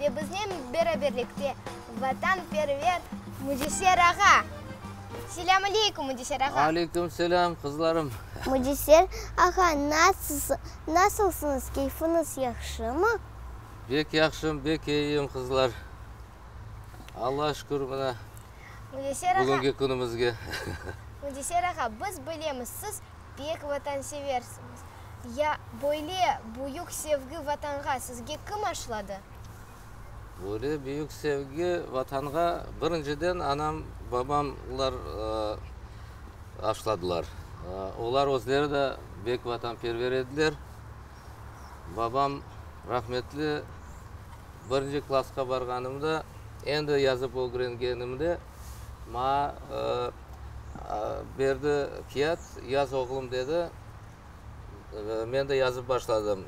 Ve biznen beraberlikte vatanperver Müciser ağa. Selâm aleykum, Müciser ağa! Aleykum selâm, qızlarım! Müciser ağa, nasılsıñız, keyfiñiz yahşımı? Bek yahşım, bek eyiyim, qızlar. Allağa şükür, mına, bugünki künümizge. Müciser ağa, biz bilemiz, siz bek vatanseversiñiz. Ya böyle büyük sevgi Vatanğa sizge kim aşladı? Böyle büyük sevgi Vatanğa birinciden anam, babamlar aşladılar. Olar özleri de bek vatanperver ediler. Babam rahmetli birinci klasqa barğanımda, endi yazıp ögrengenimde maña berdi kiyat, yaz oğlum dedi. Men de yazıp başladım.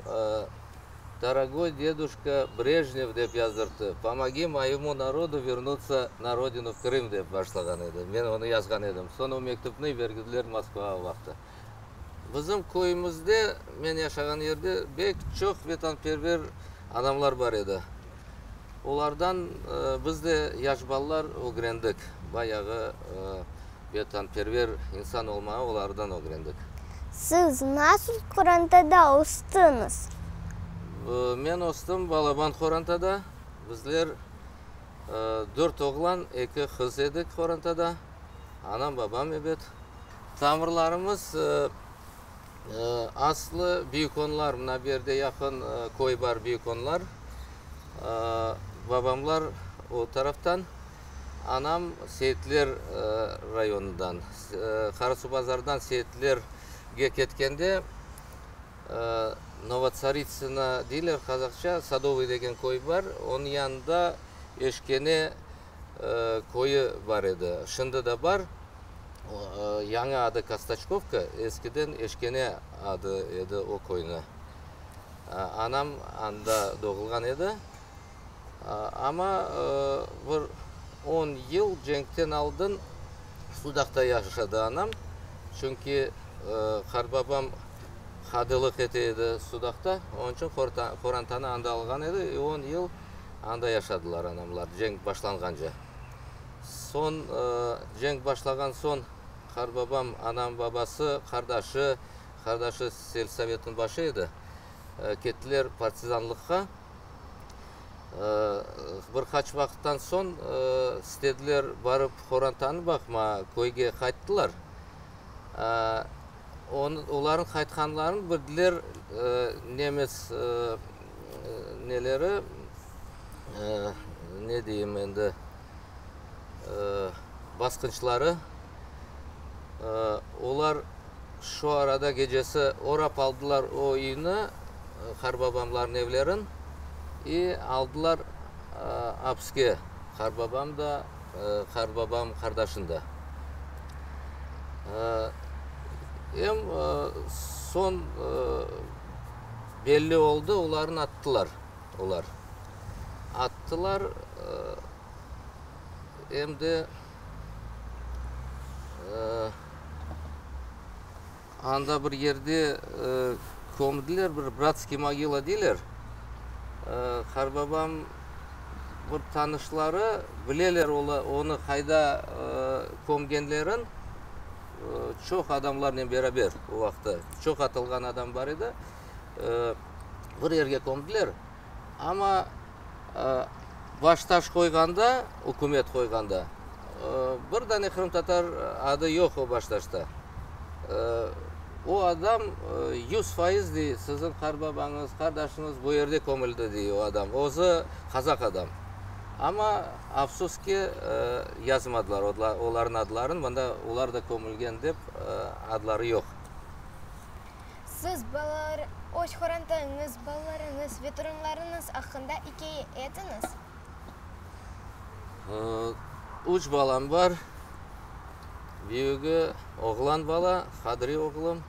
Dorogoy deduşka Brejnev dep yazdırttı. Pomogi moyemu narodu vernutsa na rodinu Krım dep başlağan edi. Men onı yazğan edim. Soñ o mektüpni vergüdler Moskvağa vaqtı. Bizim köyümizde, men yaşağan yerde bek çoq vetanperver adamlar bar edi. Olardan biz de, yaş balalar, ögrendik bayağı Vetanperver insan olmağı olardan ögrendik. Siz nasıl qorantada östüñiz? Men östüm balaban qorantada. Bizler dört oğlan, eki qız edik qorantada. Anam, babam, ebet. Tamırlarımız aslı Büyükonlar, mına bu yerde yaqın köy bar, Büyükonlar. Babamlar o taraftan. Anam Seyitler rayonından, Qarasuvbazardan Seyitlerge ketkende, Novotsaritsına deyler qazaqça, Sadovıy degen köy bar, onıñ yanında Eşkene köyü bar edi. Şimdi de bar, yañı adı Kastaçkovka, eskiden Eşkene adı edi o köyniñ. Anam anda doğulğan edi. Amma bir on yıl cenkten aldın Sudaqta yaşadı anam. Çünki qartbabam qadılıq ete edi Sudaqta. Onıñ içün qorantanı anda alğan edi. E on yıl anda yaşadılar anamlar cenk başlanğance. Soñ, cenk başlağan soñ qartbabam, anam babası, qardaşı, qardaşı selsovetniñ başı edi, kettiler partizanlıqqa. Bir qaç vaqıttan soñ istediler barıp qorantanı baqmağa, köyge qayttılar. Olarnıñ qaytqanlarını bildiler nemes neleri, ne deyim endi, basqınçıları. Olar. Şu arada gecesi orap aldılar o üyni, qarbabamlarnıñ evlerin, i aldılar apiske, qarbabam da, qarbabam qardaşın da. Em soñ belli oldı, olarnı attılar. Olar attılar, em de. Anda bir yerde kömdiler, bir bratskiy mogila deyler. Qarbabam bir tanışları bileler onı qayda kömgenlerin, çoq adamlarnen beraber o vaqıtta, çoq atılğan adam bar edi. Bir yerge kömdiler. Amma baş taş qoyğanda, ükümet qoyğanda, bir dane qırımtatar adı yoq o baş taşta. O adam yüz fayız dey, siziñ qarbabañız, qardaşıñız bu yerde kömüldi dey o adam. Özü qazaq adam. Amma afsus ki, yazmadılar olarnıñ adlarını, mında olar da kömülgen dep adları yoq. Siz, balalar, öz qorantañız, balalarıñız ve torunlarıñız aqqında ikâye etiñiz. Üç balam bar. Büyügi, oğlan bala, Hadri oğlum.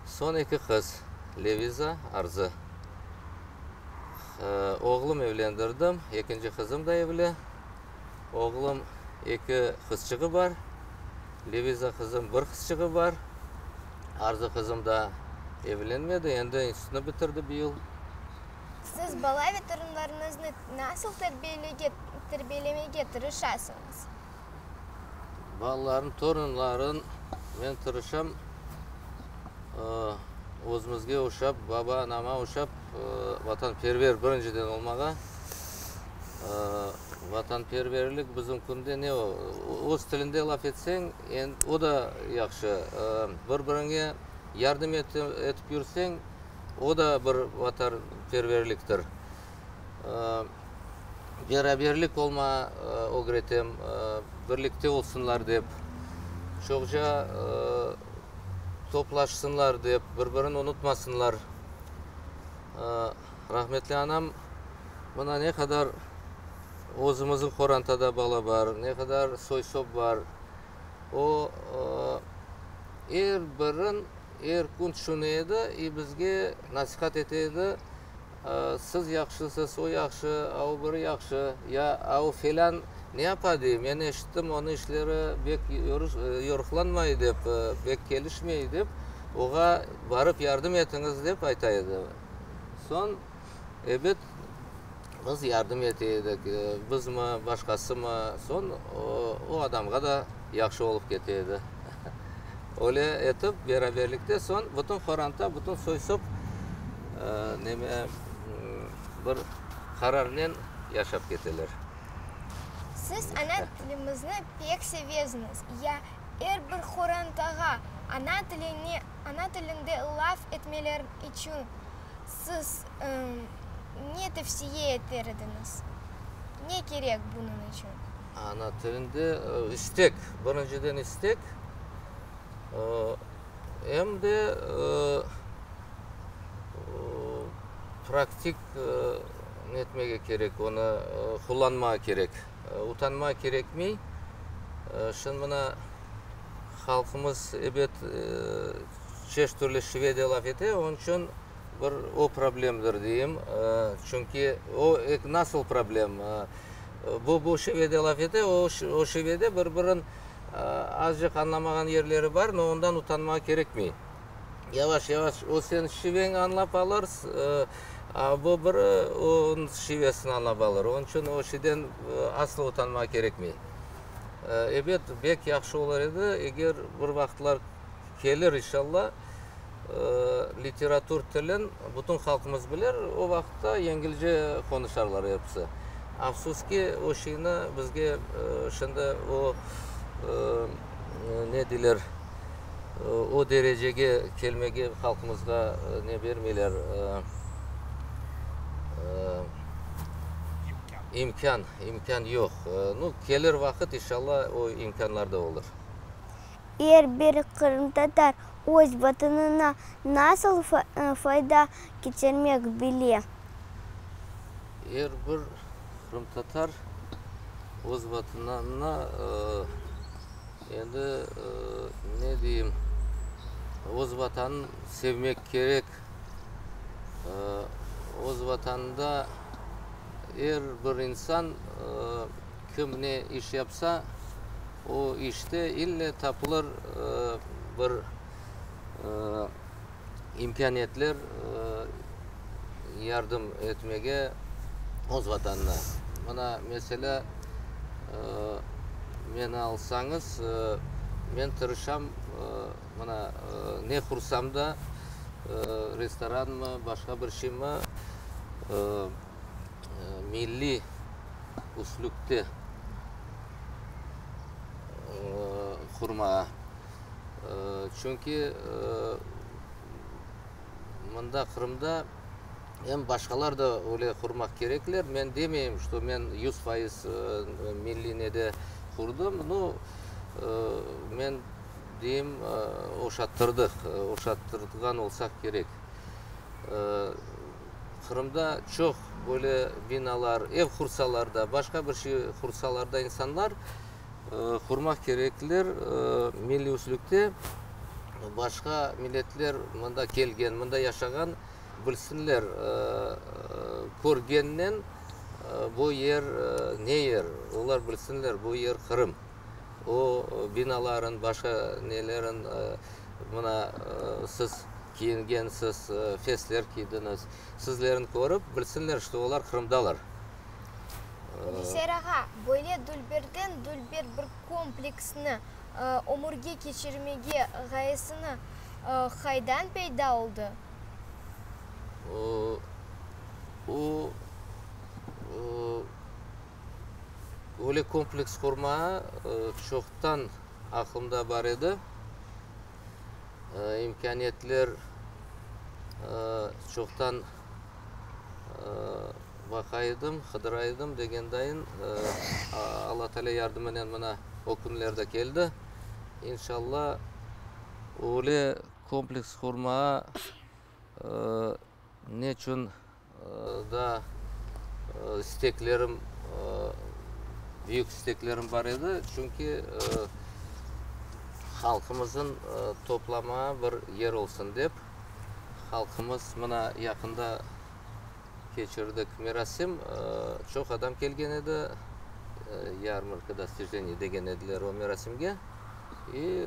Soñ eki qız, Leviza, Arzı. Oğlum evlendirdim, ekinci qızım da evli. Oğlum eki qızçığı bar, Leviza qızım bir qızçığı bar. Arzu qızım da evlenmedi, endi institutnı bitirdi bu yıl. Siz bala ve torunlarıñıznı nasıl terbiyelege, terbiyelemege tırışasıñız? Balalarım, torunlarım, men tırışam, özümizge oşap, baba-anama oşap, vatanperver birinciden olmağa. Vatanperverlik bizim künde ne o? Öz tilinde laf etseñ, o da yahşı. Bir-biriñe yardım etip yürseñ, o da bir vatanperverliktir. Beraberlik olma ögretem, birlikte olsunlar dep, çoqça toplaşsınlar dep, bir-birini unutmasınlar. Rahmetli anam Mına ne qadar özümizniñ qorantada bala bar, ne qadar soy-sop bar, o, er birin er kün tüşüne edi i bizge nasihat ete edi, Siz yahşısız, o yahşı, a o biri yahşı, ya a o felân ne yapa dey, men eşittim, onı işleri bek yoruqlanmay dep, bek kelişmey dep, oğa barıp yardım etiñiz dep ayta edi. Soñ. Ebet, biz yardım ete edik, bizmi, başqasımı, soñ o adamğa da yahşı olıp kete edi. Öyle etip, beraberlikte soñ bütün qoranta, bütün soy-sop neme, bir qararnen yaşap keteler. Siz ana tilimizni pek sevesiñiz. Ya er bir qorantağa ana tilinde laf etmeleri içün Siz ne tevsiye eter ediñiz? Ne kerek bunıñ içün? Ana tilinde istek, birinciden istek, em de praktik netmege kerek, onı qullanmağa kerek. Utanmağa kerekmey. Şimdi mına halqımız ebet Çeşit türlü Şvediya laf ete, onıñ içün bir o problemdir deyim. Çünki o nasıl problem? Bu-bu Şvediya laf ete, o Şvediya, bir-birin azcıq añlamağan yerleri bar, no ondan utanmağa kerekmey. Yavaş-yavaş o señ şiveñi añlap alır, a bu biri onıñ şivesini añlap alır. Onıñ içün o şeyden asla utanmağa kerekmey. Ebet, bek yahşı olur edi, eger bir vaqıtlar kelir inşalla. Literatur tilin bütün halqımız bilir, o vaqıtta yengilce qonuşarlar episi. Afsus ki, o şeyni bizge şimdi o, ne deyler, o derecege kelmege halqımızğa ne bermeyler, imkân, imkân yoq. Nu, kelir vaqıt inşalla o imkânlar da olur. Er bir qırımtatar öz Vatanına nasıl fayda keçirmek bile? Er bir qırımtatar öz Vatanına, endi, ne deyim, öz Vatanın sevmek kerek. Öz Vatanında er bir insan. Kim ne iş yapsa, o işte ille tapılır bir imkâniyetler yardım etmege öz Vatanına. Mına, meselâ, meni alsañız, men tırışam, mına, ne qursam da, restoranmı, başqa bir şeymi, milliy üslüpte qurmağa. Çünki mında, Qırımda, em başqalar da öyle qurmaq kerekler. Men demeyim, ki, men yüz fayız milliy nede qurdım. Nu, men deyim, oşattırdıq, oşattırğan olsaq kerek. Qırımda çoq böyle binalar, ev qursalar da, başqa bir şey qursalar da insanlar qurmaq kerekler, milliuslikte başqa milletler mında kelgen, mında yaşağan bilsinler, körgennen bu yer ne yer, olar bilsinler, bu yer Qırım. O binaların, başqa nelerin mına siz. kiyingensiz, fesler kiydiñiz, sizlerni körip, bilsinler, ki olar Qırımdalar. Komiser ağa, böyle dülberden dülber bir kompleksni ömürge keçirmege ğayesini qaydan peyda oldı? O, öyle kompleks qurmağa çoqtan aqlımda bar edi. imkâniyetler çoqtan baqa edim, qıdıra edim, degendayın, Alla Taalâ yardımınen mına o künler de keldi. İnşalla, öyle kompleks qurmağa Neçün da isteklerim, büyük isteklerim bar edi, çünki halqımızın toplamağa bir yer olsun dep, halqımız mına yaqında keçirdik merasim, çoq adam kelgen edi, yarmarka dostijeniy degen ediler o merasimge, i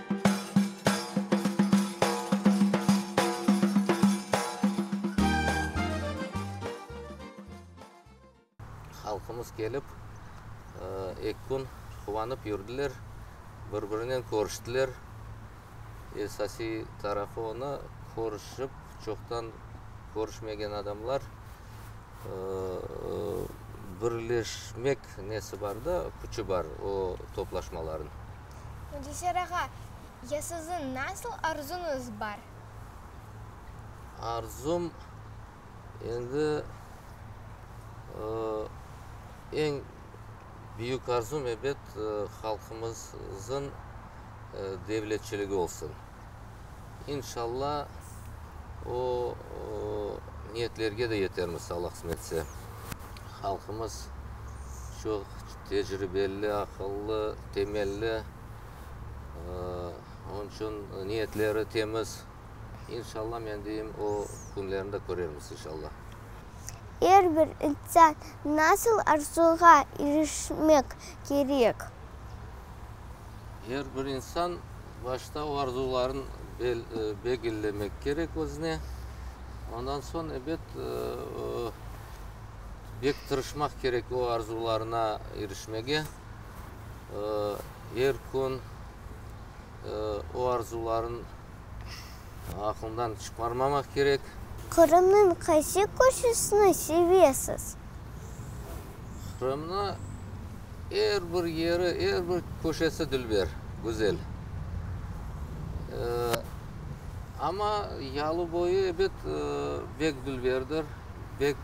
Halqımız kelip, eki kün quvanıp yürdiler, bir-birinen körüştiler. Esasiy tarafı onı, körüşip, çoqtan körüşmegen adamlar birleşmek nesi bar da, küçü bar o toplaşmalarnıñ. Müdesser ağa, ya siziñ nasıl arzuñız bar? Arzum, endi, eñ büyük arzum, ebet, halqımızıñ devletçiligi olsun. İnşalla, o niyetlerge de yetermiz, Allah qısmetse. Halqımız çoq tecribeli, aqıllı, temelli, onıñ içün niyetleri temiz. İnşalla, men deyim, o künlerini de körermiz, inşalla. Er bir insan nasıl arzuğa irişmek kerek? Er bir insan. Başta o arzuların belgillemek kerek özüne, ondan soñ, ebet, bek tırışmaq kerek o arzularına irişmege. Er kün o arzuların. Aqlından çıqarmamaq kerek. Qırımnıñ qaysı köşesini sevesiz? Qırımnı er bir yeri, er bir köşesi dülber, güzel. Amma yalıboyu, ebet, bek dülberdir, bek.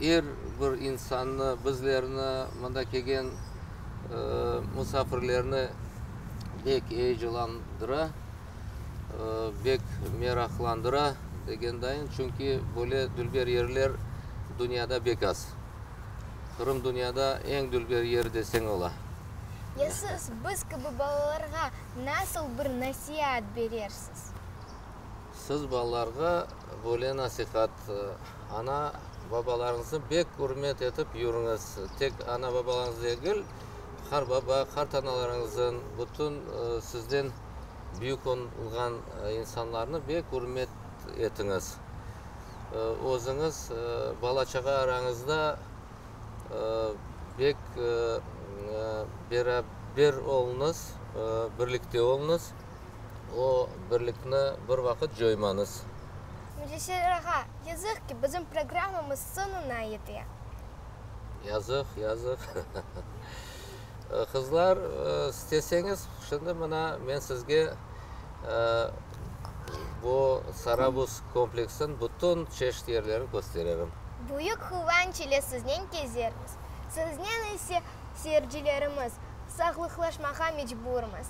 er bir insannı, bizlerni, mında kelgen musafirlerni bek eyecanlandıra, bek meraqlandıra degendayım. Çünki böyle dülber yerler dünyada bek az. Qırım dünyada eñ dülber yer deseñ ola. Ya siz biz kibi balalarğa nasıl bir nasiat berersiz? Siz balalarğa Böyle nasihat, ana, babalarıñıznı bek ürmet etip yürüñiz, tek ana, babalarıñız degil, qar baba, qart analarıñızın, bütün sizden büyük olğan insanlarnı bek ürmet etiñiz. Özüñiz, bala-çağa arañızda bek beraber oluñız, birlikte oluñız. O birlikni bir vaqıt coymañız. Mücesser ağa, yazıq ki, bizim programmamız soñuna yete. Yazıq, yazıq. Qızlar, isteseñiz, şimdi mına men sizge bu Sarabuz kompleksiniñ bütün çeşit yerlerini köstererim. Büyük quvanç ile siznen kezermiz. Siznen ise, seyircilerimiz, sağlıqlaşmağa mecburmız.